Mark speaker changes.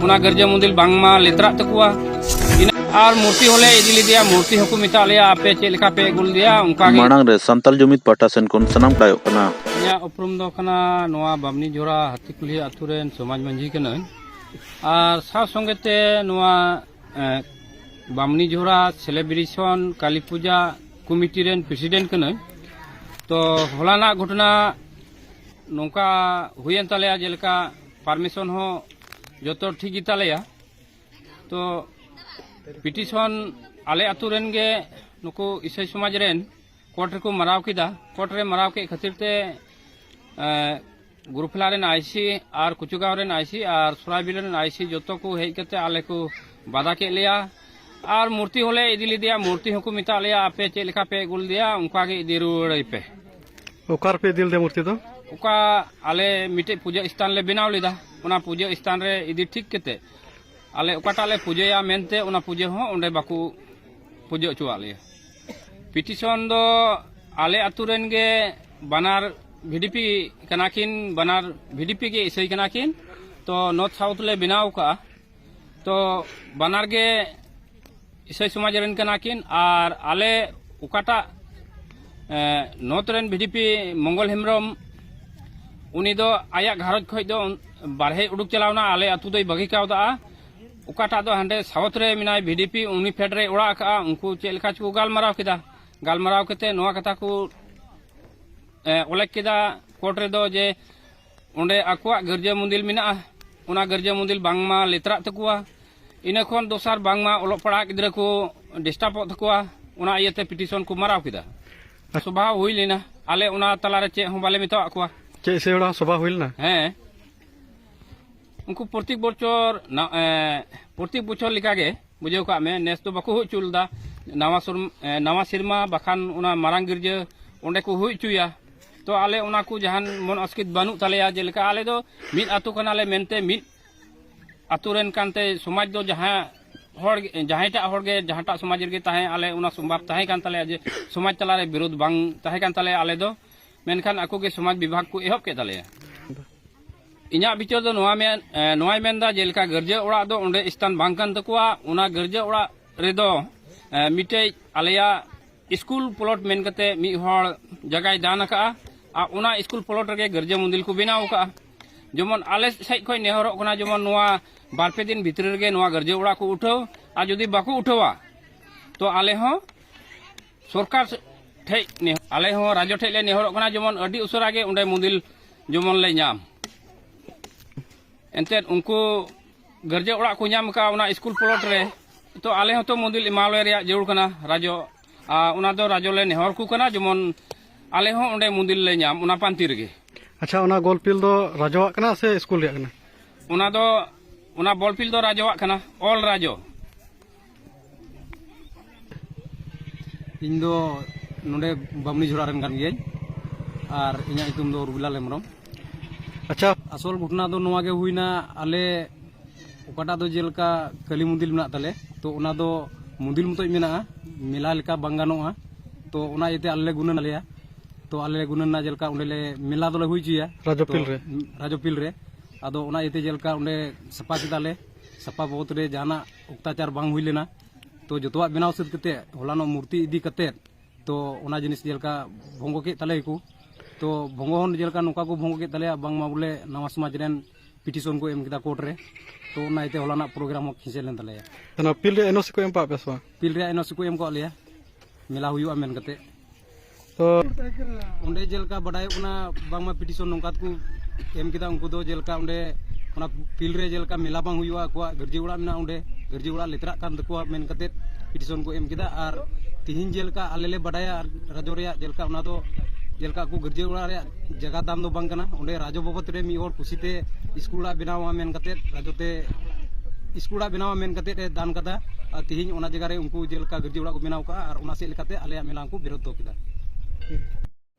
Speaker 1: ᱚᱱᱟ ᱜᱤᱨᱡᱟᱹ ᱢᱚᱱᱫᱤᱨ ᱵᱟᱝᱢᱟ ᱞᱮᱛᱨᱟᱜ ᱛᱟᱠᱚᱣᱟ ᱟᱨ ᱢᱩᱨᱛᱤ ᱦᱚᱞᱮ ᱤᱫᱤ ᱞᱮᱫᱮᱭᱟ ᱢᱩᱨᱛᱤ ᱦᱚᱸᱠᱚ ᱢᱮᱛᱟᱜ ᱞᱮᱭᱟ ᱟᱯᱮ ᱪᱮᱫ ᱞᱮᱠᱟ ᱯᱮ ᱟᱹᱜᱩ ᱞᱮᱫᱮᱭᱟ ᱚᱱᱠᱟ ᱜᱮ ᱢᱟᱲᱟᱝ ᱨᱮ ᱥᱟᱱᱛᱟᱞ
Speaker 2: ᱡᱩᱢᱤᱫ ᱯᱟᱦᱴᱟ ᱥᱮᱱ ᱠᱷᱚᱱ ᱥᱟᱱᱟᱢ ᱴᱟᱭᱚᱜ ᱠᱟᱱᱟ ᱤᱧᱟᱹᱜ ᱩᱯᱨᱩᱢ ᱫᱚ
Speaker 1: ᱠᱟᱱᱟ ᱱᱚᱣᱟ ᱵᱟᱢᱱᱤ ᱡᱷᱚᱨᱟ ᱦᱟᱹᱛᱤ ᱠᱩᱞᱦᱤ ᱟᱛᱳ ᱨᱮᱱ ᱥᱚᱢᱟᱡᱽ ᱢᱟᱹᱡᱷᱤ ᱠᱟᱹᱱᱟᱹᱧ ᱟᱨ ᱥᱟᱶ ᱥᱚᱸᱜᱮ ᱛᱮ ᱱᱚᱣᱟ ᱵᱟᱢᱱᱤ ᱡᱷᱚᱨᱟ ᱥᱮᱞᱮᱵᱨᱮᱥᱚᱱ ᱠᱟᱞᱤ ᱯᱩᱡᱟ ᱠᱚᱢᱤᱴᱤ ᱨᱮᱱ ᱯᱨᱮᱥᱤᱰᱮᱱᱴ ᱠᱟᱹᱱᱟᱹᱧ ᱛᱚ ᱦᱚᱞᱟᱱᱟᱜ ᱜᱷᱚᱴᱚᱱᱟ ᱱᱚᱝᱠᱟ ᱦᱩᱭᱮᱱ ᱛᱟᱞᱮᱭᱟ ᱡᱮᱞᱮᱠᱟ ᱯᱟᱨᱢᱤᱥᱚᱱ ᱦᱚᱸ ᱡᱚᱛᱚ ᱴᱷᱤᱠ ᱜᱮ ᱛᱟᱞᱮᱭᱟ ᱛᱚ ᱯᱤᱴᱤᱥᱚᱱ ᱟᱞᱮ ᱟᱛᱳ ᱨᱮᱱ ᱜᱮ ᱱᱩᱠᱩ ᱤᱥᱟᱹᱭ ᱥᱚᱢᱟᱡᱽ ᱨᱮᱱ ᱠᱳᱨᱴ ᱨᱮᱠᱚ ᱢᱟᱨᱟᱣ ᱠᱮᱫᱟ ᱠᱳᱨᱴ ᱨᱮ ᱢᱟᱨᱟᱣ ᱠᱮᱫ ᱠᱷᱟᱹᱛᱤᱨ ᱛᱮ ᱜᱩᱨᱩᱯᱷᱮᱞᱟ ᱨᱮᱱ ᱟᱭᱥᱤ ᱟᱨ ᱠᱩᱪᱩᱜᱟᱸᱣ ᱨᱮᱱ ᱟᱭᱥᱤ ᱟᱨ ᱥᱚᱨᱟᱭᱵᱤᱞ ᱨᱮᱱ ᱟᱭᱥᱤ ᱡᱚᱛᱚ ᱠᱚ ᱦᱮᱡ ᱠᱟᱛᱮ ᱟᱞᱮ ᱠᱚ ᱵᱟᱫᱷᱟ ᱠᱮᱫ ᱞᱮᱭᱟ ᱟᱨ ᱢᱩᱨᱛᱤ ᱦᱚᱸᱞᱮ ᱤᱫᱤ ᱞᱮᱫᱮᱭᱟ ᱢᱩᱨᱛᱤ ᱦᱚᱸᱠᱚ ᱢᱮᱛᱟᱜ ᱞᱮᱭᱟ ᱟᱯᱮ ᱪᱮᱫ ᱞᱮᱠᱟ ᱯᱮ ᱟᱹᱜᱩ ᱞᱮᱫᱮᱭᱟ ᱚᱱᱠᱟ ᱜᱮ ᱤᱫᱤ ᱨᱩᱣᱟᱹᱲᱟᱭ ᱯᱮ ᱚᱠᱟ ᱨᱮᱯᱮ
Speaker 3: ᱤᱫᱤ ᱞᱮᱫᱮᱭᱟ ᱢᱩᱨᱛᱤ ᱫᱚ ᱚᱠᱟ
Speaker 1: ᱟᱞᱮ ᱢᱤᱫᱴᱮᱡ ᱯᱩᱡᱟᱹ ᱥᱛᱷᱟᱱ ᱞᱮ ᱵᱮᱱᱟᱣ ᱞᱮᱫᱟ ᱚᱱᱟ ᱯᱩᱡᱟᱹ ᱥᱛᱷᱟᱱ ᱨᱮ ᱤᱫᱤ ᱴᱷᱤᱠ ᱠᱟᱛᱮ ᱟᱞᱮ ᱚᱠᱟᱴᱟᱜ ᱞᱮ ᱯᱩᱡᱟᱹᱭᱟ ᱢᱮᱱᱛᱮ ᱚᱱᱟ ᱯᱩᱡᱟᱹ ᱦᱚᱸ ᱚᱸᱰᱮ ᱵᱟᱠᱚ ᱯᱩᱡᱟᱹ ᱦᱚᱪᱚᱣᱟᱜ ᱞᱮᱭᱟ ᱯᱤᱴᱤᱥᱚᱱ ᱫᱚ ᱟᱞᱮ ᱟᱛᱳ ᱨᱮᱱ ᱜᱮ ᱵᱟᱱᱟᱨ ᱵᱷᱤᱰᱤᱯᱤ ᱠᱟᱱᱟ ᱠᱤᱱ ᱵᱟᱱᱟᱨ ᱵᱷᱤᱰᱤᱯᱤ ᱜᱮ ᱤᱥᱟᱹᱭ ᱠᱟᱱᱟ ᱠᱤᱱ ᱛᱚ ᱱᱚᱨᱛᱷ ᱥᱟᱣᱩᱛᱷ ᱞᱮ ᱵᱮᱱᱟᱣ ᱠᱟᱜᱼᱟ ᱛᱚ ᱵᱟᱱᱟᱨ ᱜᱮ ᱤᱥᱟᱹᱭ ᱥᱚᱢᱟᱡᱽ ᱨᱮᱱ ᱠᱟᱱᱟ ᱠᱤᱱ ᱟᱨ ᱟᱞᱮ ᱚᱠᱟᱴᱟᱜ ᱱᱚᱛ ᱨᱮᱱ ᱵᱷᱤᱰᱤᱯᱤ ᱢᱚᱝᱜᱚᱞ ᱦᱮᱢᱵᱨᱚᱢ ᱩᱱᱤ ᱫᱚ ᱟᱭᱟᱜ ᱜᱷᱟᱨᱚᱸᱡᱽ ᱠᱷᱚᱡ ᱫᱚ ᱵᱟᱨᱦᱮ ᱩᱰᱩᱠ ᱪᱟᱞᱟᱣᱱᱟ ᱟᱞᱮ ᱟᱛᱳ ᱫᱚᱭ ᱵᱟᱹᱜᱤ ᱠᱟᱣᱫᱟ ᱚᱠᱟᱴᱟᱜ ᱫᱚ ᱦᱟᱸᱰᱮ ᱥᱟᱣᱩᱛ ᱨᱮ ᱢᱮᱱᱟᱭ ᱵᱷᱤᱰᱤᱯᱤ ᱩᱱᱤ ᱯᱷᱮᱰ ᱨᱮ ᱚᱲᱟᱜ ᱟᱠᱟᱜᱼᱟ ᱩᱱᱠᱩ ᱪᱮᱫ ᱞᱮᱠᱟ ᱪᱚᱠᱚ ᱜᱟᱞᱢᱟᱨᱟᱣ ᱠᱮᱫᱟ ᱜᱟᱞᱢᱟᱨᱟᱣ ᱠᱟᱛᱮ ᱱᱚᱣᱟ ᱠᱟᱛᱷᱟ ᱠᱚ ᱚᱞᱮᱠ ᱠᱮᱫᱟ ᱠᱳᱨᱴ ᱨᱮᱫᱚ ᱡᱮ ᱚᱸᱰᱮ ᱟᱠᱚᱣᱟᱜ ᱜᱤᱨᱡᱟᱹ ᱢᱚᱱᱫᱤᱨ ᱢᱮᱱᱟᱜᱼᱟ ᱚᱱᱟ ᱜᱤᱨᱡᱟᱹ ᱢᱚᱱᱫᱤᱨ ᱵᱟᱝᱢᱟ ᱞᱮᱛᱨᱟᱜ ᱛᱟᱠᱚᱣᱟ ᱤᱱᱟᱹ ᱠᱷᱚᱱ ᱫᱚᱥᱟᱨ ᱵᱟᱝᱢᱟ ᱚᱞᱚᱜ ᱯᱟᱲᱦᱟᱜ ᱜᱤᱫᱽᱨᱟᱹ ᱠᱚ ᱰᱤᱥᱴᱟᱵᱚᱜ ᱛᱟᱠᱚᱣᱟ ᱚᱱᱟ ᱤᱭᱟᱹᱛᱮ ᱯᱤᱴᱤᱥᱚᱱ ᱠᱚ ᱢᱟᱨᱟᱣ ᱠᱮᱫᱟ ᱥᱚᱵᱷᱟ ᱦᱩᱭ ᱞᱮᱱᱟ ᱟᱞᱮ ᱚᱱᱟ ᱛᱟᱞᱟᱨᱮ ᱪᱮᱫ ᱦᱚᱸ ᱵᱟᱞᱮ ᱢᱮᱛᱟᱣᱟᱜ ᱠᱚᱣᱟ ᱪᱮᱫ ᱤᱥᱟᱹᱭ ᱦᱚᱲᱟᱜ ᱥᱚᱵᱷᱟ
Speaker 3: ᱦᱩᱭ ᱞᱮᱱᱟ ᱦᱮᱸ
Speaker 1: ᱩᱱᱠᱩ ᱯᱨᱚᱛᱮᱠ ᱵᱚᱪᱷᱚᱨ ᱯᱨᱚᱛᱮᱠ ᱵᱚᱪᱷᱚᱨ ᱞᱮᱠᱟᱜᱮ ᱵᱩᱡᱷᱟᱹᱣ ᱠᱟᱜ ᱢᱮ ᱱᱮᱥ ᱫᱚ ᱵᱟᱠᱚ ᱦᱩᱭ ᱦᱚᱪᱚ ᱞᱮᱫᱟ ᱱᱟᱣᱟ ᱱᱟᱣᱟ ᱥᱮᱨᱢᱟ ᱵᱟᱠᱷᱟᱱ ᱚᱱᱟ ᱢᱟᱨᱟᱝ ᱜᱤᱨᱡᱟᱹ ᱚᱸᱰᱮ ᱠᱚ ᱦᱩᱭ ᱦᱚᱪᱚᱭᱟ ᱛᱚ ᱟᱞᱮ ᱚᱱᱟ ᱠᱚ ᱡᱟᱦᱟᱱ ᱢᱚᱱ ᱚᱥᱠᱤᱛ ᱵᱟᱹᱱᱩᱜ ᱛᱟᱞᱮᱭᱟ ᱡᱮᱞᱮᱠᱟ ᱟᱞᱮ ᱫᱚ ᱢᱤᱫ ᱟᱛᱳ ᱠᱟᱱᱟᱞᱮ ᱢᱮᱱᱛᱮ ᱢᱤᱫ ᱟᱛᱳ ᱨᱮᱱ ᱠᱟᱱᱛᱮ ᱥᱚᱢᱟᱡᱽ ᱫᱚ ᱡᱟᱦᱟᱸ ᱦᱚᱲ ᱡᱟᱦᱟᱸᱭᱴᱟᱜ ᱦᱚᱲ ᱜᱮ ᱡᱟᱦᱟᱸᱴᱟᱜ ᱥᱚᱢᱟᱡᱽ ᱨᱮᱜᱮ ᱛᱟᱦᱮᱸ ᱟᱞᱮ ᱚᱱᱟ ᱥᱚᱢᱵᱷᱟᱵ ᱛᱟᱦᱮᱸ ᱠᱟᱱ ᱛᱟᱞᱮᱭᱟ ᱡᱮ ᱥᱚᱢᱟᱡᱽ ᱛᱟᱞᱟᱨᱮ ᱵᱤᱨᱳᱫᱷ ᱵᱟᱝ ᱛᱟᱦᱮᱸ ᱠᱟᱱ ᱛᱟᱞᱮᱭᱟ ᱟᱞᱮ ᱫᱚ ᱢᱮᱱᱠᱷᱟᱱ ᱟᱠᱚ ᱜᱮ ᱥᱚᱢᱟᱡᱽ ᱵᱤᱵᱷᱟᱜᱽ ᱠᱚ ᱮᱦᱚᱵ ᱠᱮᱫ ᱛᱟᱞᱮᱭᱟ ᱤᱧᱟᱹᱜ ᱵᱤᱪᱟᱹᱨ ᱫᱚ ᱱᱚᱣᱟ ᱢᱮᱱ ᱱᱚᱣᱟᱭ ᱢᱮᱱᱫᱟ ᱡᱮᱞᱮᱠᱟ ᱜᱟᱨᱡᱟᱹ ᱚᱲᱟᱜ ᱫᱚ ᱚᱸᱰᱮ ᱥᱛᱷᱟᱱ ᱵᱟᱝ ᱠᱟᱱ ᱛᱟᱠᱚᱣᱟ ᱚᱱᱟ ᱜᱟᱨᱡᱟᱹ ᱚᱲᱟᱜ ᱨᱮᱫᱚ ᱢᱤᱫᱴᱮᱡ ᱟᱞᱮᱭᱟᱜ ᱥᱠᱩᱞ ᱯᱞᱚᱴ ᱢᱮᱱ ᱠᱟᱛᱮ ᱢᱤᱫ ᱦᱚᱲ ᱡᱟᱭᱜᱟᱭ ᱫᱟᱱ ᱟᱠᱟᱫᱼᱟ ᱟᱨ ᱚᱱᱟ ᱥᱠᱩᱞ ᱯᱞᱚᱴ ᱨᱮᱜᱮ ᱜᱤᱨᱡᱟᱹ ᱢᱚᱱᱫᱤᱨ ᱠᱚ ᱵᱮᱱᱟᱣ ᱟᱠᱟᱫᱼᱟ ᱡᱮᱢᱚᱱ ᱟᱞᱮ ᱥᱮᱫ ᱠᱷᱚᱱ ᱱᱮᱦᱚᱨᱚᱜ ᱠᱟᱱᱟ ᱡᱮᱢᱚᱱ ᱱᱚᱣᱟ ᱵᱟᱨ ᱯᱮ ᱫᱤᱱ ᱵᱷᱤᱛᱨᱤ ᱨᱮᱜᱮ ᱱᱚᱣᱟ ᱜᱤᱨᱡᱟᱹ ᱚᱲᱟᱜ ᱠᱚ ᱩᱴᱷᱟᱹᱣ ᱟᱨ ᱡᱩᱫᱤ ᱵᱟᱠᱚ ᱩᱴᱷᱟᱹᱣᱟ ᱛᱚ ᱟᱞᱮ ᱦᱚᱸ ᱥᱚᱨᱠᱟᱨ ᱴᱷᱮᱡ ᱟᱞᱮ ᱦᱚᱸ ᱨᱟᱡᱽᱡᱚ ᱴᱷᱮᱡ ᱞᱮ ᱱᱮᱦᱚᱨᱚᱜ ᱠᱟᱱᱟ ᱡᱮᱢᱚᱱ ᱟᱹᱰᱤ ᱩᱥᱟᱹᱨᱟ ᱜᱮ ᱚᱸᱰᱮ ᱢᱚᱱᱫᱤᱨ ᱡᱮᱢᱚᱱ ᱞᱮ ᱧᱟᱢ ᱮᱱᱛᱮᱫ ᱩᱱᱠᱩ ᱜᱟᱨᱡᱮ ᱚᱲᱟᱜ ᱠᱚ ᱧᱟᱢ ᱟᱠᱟᱫ ᱚᱱᱟ ᱥᱠᱩᱞ ᱯᱞᱚᱴ ᱨᱮ ᱛᱚ ᱟᱞᱮ ᱦᱚᱸᱛᱚ ᱢᱚᱱᱫᱤᱞ ᱮᱢᱟᱣᱟᱞᱮ ᱨᱮᱭᱟᱜ ᱡᱟᱹᱨᱩᱲ ᱠᱟᱱᱟ ᱨᱟᱡᱚ ᱟᱨ ᱚᱱᱟ ᱫᱚ ᱨᱟᱡᱚ ᱞᱮ ᱱᱮᱦᱚᱨ ᱠᱚ ᱠᱟᱱᱟ ᱡᱮᱢᱚᱱ ᱟᱞᱮ ᱦᱚᱸ ᱚᱸᱰᱮ ᱢᱚᱱᱫᱤᱞ ᱞᱮ ᱧᱟᱢ ᱚᱱᱟ ᱯᱟᱱᱛᱤ ᱨᱮᱜᱮ ᱟᱪᱪᱷᱟ ᱚᱱᱟ ᱜᱚᱞ
Speaker 3: ᱯᱤᱞ ᱫᱚ ᱨᱟᱡᱚᱣᱟᱜ ᱠᱟᱱᱟ ᱥᱮ ᱥᱠᱩᱞ ᱨᱮᱭᱟᱜ ᱠᱟᱱᱟ ᱚᱱᱟ ᱫᱚ
Speaker 1: ᱚᱱᱟ ᱵᱚᱞ ᱯᱤᱞ ᱫᱚ ᱨᱟᱡᱚᱣᱟᱜ ᱠᱟᱱᱟ ᱚᱞ ᱨᱟᱡᱚ ᱤᱧ ᱫᱚ ᱱᱚᱰᱮ ᱵᱟᱢᱱᱤ ᱡᱷᱚᱲᱟ ᱨᱮᱱ ᱠᱟᱱ ᱜᱤᱭᱟᱹᱧ ᱟᱨ ᱤᱧᱟᱹᱜ ᱧᱩᱛᱩᱢ ᱫᱚ ᱨᱩᱵᱤᱞᱟᱞ ᱦᱮᱢᱵᱨᱚᱢ ᱟᱪᱪᱷᱟ
Speaker 3: ᱟᱥᱚᱞ ᱜᱷᱚᱴᱚᱱᱟ ᱫᱚ
Speaker 1: ᱱᱚᱣᱟ ᱜᱮ ᱦᱩᱭᱱᱟ ᱟᱞᱮ ᱚᱠᱟᱴᱟᱜ ᱫᱚ ᱡᱮᱞᱮᱠᱟ ᱠᱟᱹᱞᱤ ᱢᱚᱱᱫᱤᱨ ᱢᱮᱱᱟᱜ ᱛᱟᱞᱮ ᱛᱚ ᱚᱱᱟ ᱫᱚ ᱢᱚᱱᱫᱤᱨ ᱢᱚᱛᱚᱡ ᱢᱮᱱᱟᱜᱼᱟ ᱢᱮᱞᱟ ᱞᱮᱠᱟ ᱵᱟᱝ ᱜᱟᱱᱚᱜᱼᱟ ᱛᱚ ᱚᱱᱟ ᱤᱭᱟᱹᱛᱮ ᱟᱞᱮ ᱞᱮ ᱜᱩᱱᱟᱹᱱ ᱟᱞᱮᱭᱟ ᱛᱚ ᱟᱞᱮ ᱞᱮ ᱜᱩᱱᱟᱹᱱ ᱮᱱᱟ ᱡᱮᱞᱮᱠᱟ ᱚᱸᱰᱮ ᱞᱮ ᱢᱮᱞᱟ ᱫᱚᱞᱮ ᱦᱩᱭ ᱦᱚᱪᱚᱭᱟ ᱨᱟᱡᱚᱯᱤᱞ ᱨᱮ ᱨᱟᱡᱚᱯᱤᱞ ᱨᱮ ᱟᱫᱚ ᱚᱱᱟ ᱤᱭᱟᱹᱛᱮ ᱡᱮᱞᱮᱠᱟ ᱚᱸᱰᱮ ᱥᱟᱯᱷᱟ ᱠᱮᱫᱟᱞᱮ ᱥᱟᱯᱷᱟ ᱵᱟᱵᱚᱫ ᱨᱮ ᱡᱟᱦᱟᱱᱟᱜ ᱚᱠᱛᱟᱪᱟᱨ ᱵᱟᱝ ᱦᱩᱭ ᱞᱮᱱᱟ ᱛᱚ ᱡᱚᱛᱚᱣᱟᱜ ᱵᱮᱱᱟᱣ ᱥᱟᱹᱛ ᱠᱟᱛᱮ ᱦᱚᱞᱟᱱᱚᱜ ᱢᱩᱨᱛᱤ ᱤᱫᱤ ᱠᱟᱛᱮ ᱛᱚ ᱚᱱᱟ ᱡᱤᱱᱤᱥ ᱡᱮᱞᱮᱠᱟ ᱵᱷᱚᱝᱜᱚ ᱠᱮᱫ ᱛᱟᱞᱮᱭᱟᱠᱚ ᱛᱚ ᱵᱷᱚᱝᱜᱚ ᱦᱚᱸ ᱡᱮᱞᱮᱠᱟ ᱱᱚᱝᱠᱟ ᱠᱚ ᱵᱷᱚᱝᱜᱚ ᱠᱮᱫ ᱛᱟᱞᱮᱭᱟ ᱵᱟᱝᱢᱟ ᱵᱚᱞᱮ ᱱᱟᱣᱟ ᱥᱚᱢᱟᱡᱽ ᱨᱮᱱ ᱯᱤᱴᱤᱥᱚᱱ ᱠᱚ ᱮᱢ ᱠᱮᱫᱟ ᱠᱳᱨᱴ ᱨᱮ ᱛᱚ ᱚᱱᱟ ᱤᱭᱟᱹᱛᱮ ᱦᱚᱞᱟᱱᱟᱜ ᱯᱨᱳᱜᱨᱟᱢ ᱦᱚᱸ ᱠᱷᱤᱸᱪᱟᱹ ᱞᱮᱱ ᱛᱟᱞᱮᱭᱟ ᱚᱱᱟ ᱯᱤᱞ ᱨᱮ ᱮᱱᱚᱥᱤ
Speaker 3: ᱠᱚ ᱮᱢ ᱠᱟᱜ ᱯᱮ ᱥᱮ ᱵᱟᱝ ᱯᱤᱞ ᱨᱮᱭᱟᱜ ᱮᱱᱚᱥᱤ ᱠᱚ ᱮᱢ
Speaker 1: ᱠᱟᱜ ᱞᱮᱭᱟ ᱢᱮᱞᱟ ᱦᱩᱭᱩᱜᱼᱟ ᱢᱮᱱ ᱠᱟᱛᱮ ᱛᱚ ᱚᱸᱰᱮ ᱡᱮᱞᱮᱠᱟ ᱵᱟᱰᱟᱭᱚᱜ ᱠᱟᱱᱟ ᱵᱟᱝᱢᱟ ᱯᱤᱴᱤᱥᱚᱱ ᱱᱚᱝᱠᱟ ᱛᱮᱠᱚ ᱮᱢ ᱠᱮᱫᱟ ᱩᱱᱠᱩ ᱫᱚ ᱡᱮᱞᱮᱠᱟ ᱚᱸᱰᱮ ᱚᱱᱟ ᱯᱷᱤᱞᱰ ᱨᱮ ᱡᱮᱞᱮᱠᱟ ᱢᱮᱞᱟ ᱵᱟᱝ ᱦᱩᱭᱩᱜᱼᱟ ᱟᱠᱚᱣᱟᱜ ᱜᱟᱹᱨᱡᱤ ᱚᱲᱟᱜ ᱢᱮᱱᱟᱜᱼᱟ ᱚᱸᱰᱮ ᱜᱟᱹᱨᱡᱤ ᱚᱲᱟᱜ ᱞᱮᱛᱟᱲᱟᱜ ᱠᱟᱱ ᱛᱟᱠᱚᱣᱟ ᱢᱮᱱ ᱠᱟᱛᱮ ᱯᱤᱴᱤᱥᱚᱱ ᱠᱚ ᱮᱢ ᱠᱮᱫᱟ ᱟᱨ ᱛᱤᱦᱤᱧ ᱡᱮᱞᱮᱠᱟ ᱟᱞᱮ ᱞᱮ ᱵᱟᱰᱟᱭᱟ ᱨᱟᱡᱽᱡᱚ ᱨᱮᱭᱟᱜ ᱡᱮᱞᱮᱠᱟ ᱚᱱᱟ ᱫᱚ ᱡᱮᱞᱮᱠᱟ ᱟᱠᱚ ᱜᱟᱹᱨᱡᱤ ᱚᱲᱟᱜ ᱨᱮᱭᱟᱜ ᱡᱟᱭᱜᱟ ᱛᱟᱢ ᱫᱚ ᱵᱟᱝ ᱠᱟᱱᱟ ᱚᱸᱰᱮ ᱨᱟᱡᱚ ᱵᱟᱵᱚᱫ ᱨᱮ ᱢᱤᱫ ᱦᱚᱲ ᱠᱩᱥᱤᱛᱮ ᱥᱠᱩᱞ ᱚᱲᱟᱜ ᱵᱮᱱᱟᱣᱟ ᱢᱮᱱ ᱠᱟᱛᱮᱫ ᱨᱟᱡᱚ ᱛᱮ ᱥᱠᱩᱞ ᱚᱲᱟᱜ ᱵᱮᱱᱟᱣᱟ ᱢᱮᱱ ᱠᱟᱛᱮᱫ ᱮ ᱫᱟᱱ ᱠᱟᱫᱟ ᱟᱨ ᱛᱮᱦᱮᱧ ᱚᱱᱟ ᱡᱟᱭᱜᱟ ᱨᱮ ᱩᱱᱠᱩ ᱡᱮᱞᱮᱠᱟ ᱜᱟᱹᱨᱡᱤ ᱚᱲᱟᱜ ᱠᱚ ᱵᱮᱱᱟᱣ ᱠᱟᱜᱼᱟ ᱟᱨ ᱚᱱᱟ ᱥᱮᱫ ᱞᱮᱠᱟᱛᱮ ᱟᱞᱮᱭᱟᱜ ᱢᱮᱞᱟ ᱦᱚᱸᱠᱚ ᱵᱤᱨᱳᱫᱷ ᱫᱚᱦᱚ ᱠᱮᱫᱟ